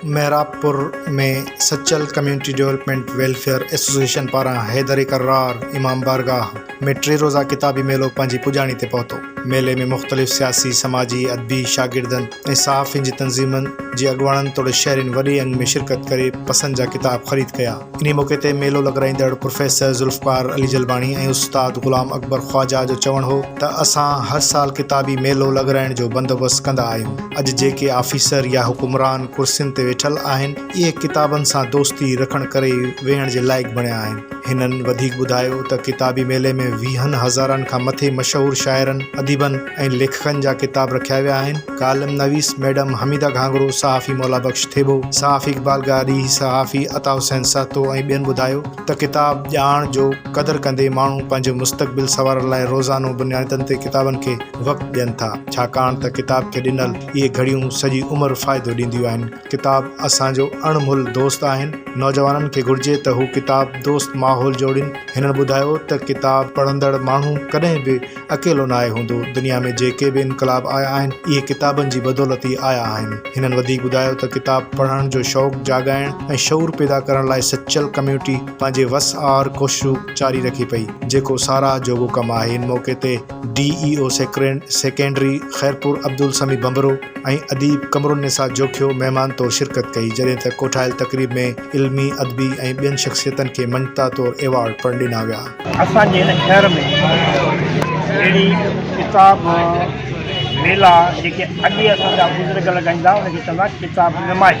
Mehrabpur ۾ Sachal community development welfare association پاران حيدري ڪرار امام بارگاهه ۾ ٽي روزه ڪتابي ميلو پنهنجي پڄاڻي تي پهتو. ميلي ۾ مختلف سياسي، سماجي، ادبي، شاگردن ۽ صحافين جي تنظيمن جي اڳواڻن توڙي شهرين وڏي انگ ۾ شرڪت ڪري پسند جا ڪتاب خريد ڪيا. انهيء موقعي تي ميلو لڳرائيندڙ پروفيسر ذوالفقار علي جلباڻي ۽ استاد غلام اڪبر خواجه جو چوڻ هو ته اسان هر سال ڪتابي ميلو لڳرائڻ جو بندوبست ڪندا آهيون. اڄ جيڪي آفيسر يا حڪمران ڪرسين تي ويٺل آهن، اهي ڪتابن سان دوستي رکڻ ڪري ئي ويهڻ جي لائق بڻيا آهن. هنن وڌيڪ ٻڌايو ته ڪتابي ميلي ۾ ويهن هزارن کان مٿي مشهور شاعرن، اديبن ۽ ليکڪن جا ڪتاب رکيا ويا آهن. ڪالم نويس ميڊم حميده گهانگهرو، صحافي مولا بخش ٿيٻو، صحافي اقبال گاري، صحافي عطا حسين سهتو ۽ ٻين ٻڌايو ته ڪتاب ڄاڻ جو قدر ڪندي ماڻهو پنهنجو مستقبل سنوارڻ لاء روزانو بنيادن تي ڪتابن کي وقت ڏين ٿا ڇاڪاڻ ته ڪتاب کي ڏنل اهي گهڙيون سڄي عمر فائدو ڏينديون آهن. ڪتاب اسان جو اڻ مھل دوست آھن نوجوانن کي گھرجي ته ھو ڪتاب دوست ماحول جوڙين ھنن ٻڌايو ته ڪتاب پڙھندڙ ماڻھو ڪڏھن به اڪيلو ناھي ھوندو دنيا ۾ جيڪي به انقلاب آيا آھن اھي ڪتابن جي بدولت ئي آيا آھن ھنن وڌيڪ ٻڌايو ته ڪتاب پڙھڻ جو شوق جاڳائڻ ۽ شعور پيدا ڪرڻ لاء سچل ڪميونٽي پنھنجي وس آھر ڪوششون جاري رکي پئي جيڪو ساراھ جوڳو ڪم آھي ان موقعي تي D E O secondary Khairpur Abdul Sami Bhanbhro ۽ اديب قمرالنساء جوکيو مهمان طور شرڪت ڪئي جڏهن ته ڪوٺايل تقريب ۾ علمي، ادبي ۽ ٻين شخصيتن کي مڃتا طور ايوارڊ پڻ ڏنا ويا. اسان جي هن شهر ۾ اهڙي ڪتاب ميلا جيڪي اڳي اسان جا بزرگ لڳائيندا ان کي چوندا ڪتاب نمائش.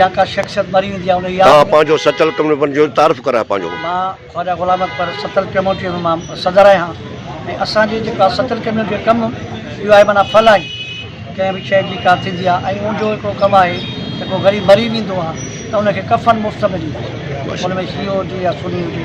يا ڪا شخصيت مري ويندي آهي ان جي ياد ۾ ها پنهنجو ستل ڪم ڏي پنهنجو تعارف ڪراء پنهنجو. مان خواجه غلام اڪبر ستل ڪميونٽيء جو مان صدر آهيان ۽ اسان جي جيڪا ستل ڪميونٽيء جو ڪم اهو آهي معنيٰ ڦلاڻي ڪنهن به شيء جي ڪا ٿيندي آهي ۽ ان جو هڪڙو ڪم آهي ته ڪو غريب مري ويندو آهي ته ان کي ڪفن مفت ملي وڃي ان ۾ شيعو هجي يا سني هجي.